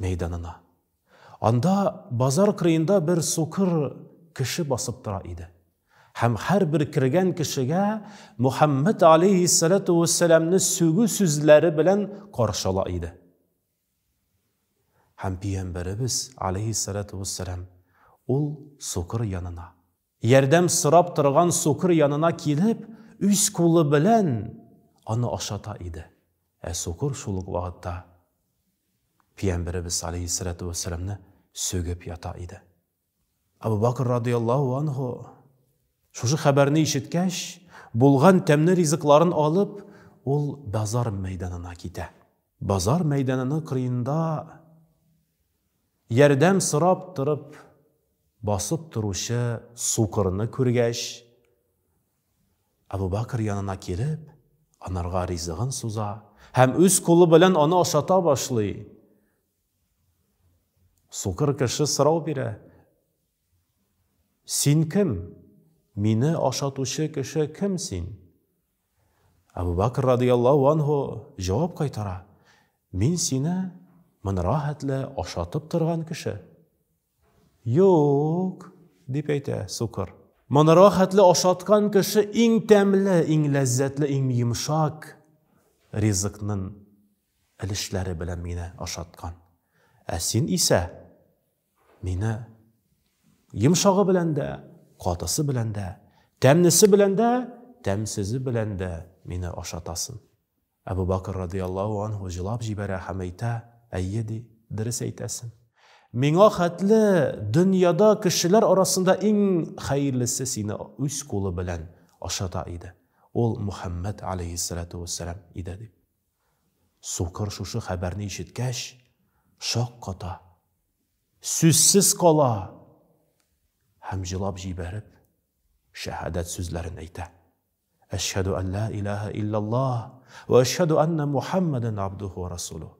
мәйданына. Анда базар кырыенда бер сукыр кеше басып тора иде. Һәм һәрбер кергән кешегә Мөхәммәд алейһиссәләтү вәссәламне сүгү сүзләре белән каршы ала иде. Һәм Пиямбәребез алейһиссәләтү вәссәлам ул сукыр янына. Ярдәм сорап торган сукыр янына килеп, үз кулы белән аны ашата иде. Ә сукыр шул ук вакытта Пиямберебез алейһиссәләтү вәссәламне сүгеп ята иде. Абу Бакр радыйаллаһу анһу, шушы хәбәрне ишеткәч, булган тәмле ризыкларын алып, ул базар мәйданына китә. Базар мәйданының кырыенда Ярдәм сорап торып басып торучы сукырны күргәч, Әбүбәкер янына килеп, анарга ризыгын суза һәм үз кулы белән аны ашата башлый. Сукыр кеше сорау бирә, Син кем? Мине ашатучы кеше кем син? Әбү Бәкер радыйяллаһу анһу җавап кайтара, Мин сине мынра хәтле ашатып торган кеше? Юк, дип әйтә сукыр. Мынра хәтле ашаткан кеше иң тәмле, иң ләззәтле, иң йомшак ризыкнын өлешләре белән мине ашаткан. Ә син исә Мине йомшагы белән дә, катысы белән дә, тәмнесе белән дә, тәмсезе белән дә мине ашатасын. Әбу Бакыр радиаллаху анху җылап җибәрә һәм әйтә, әйе ди, дөрес әйтәсең. Миңа хәтле дөньяда кешеләр арасында иң хәерлесе сине үз кулы белән ашата иде. Ул Мөхәммәд алейхиссалату вәссәлам иде дип. Сукыр шушы хәбәрне ишеткәч, шакката, сүзсез кала һәм җылап җибәреп, шәһадәт сүзләрен әйтә. Әшһәду ан ла илаһа иллаллаһ ва әшһәду анна Мухаммадан абдуху ва расулу.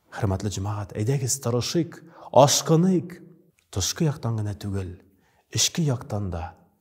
Хөрмәтле җәмәгать, әйдәгез тырышыйк, ашкыныйк. Тышкы яктан гына түгел, эчке яктан да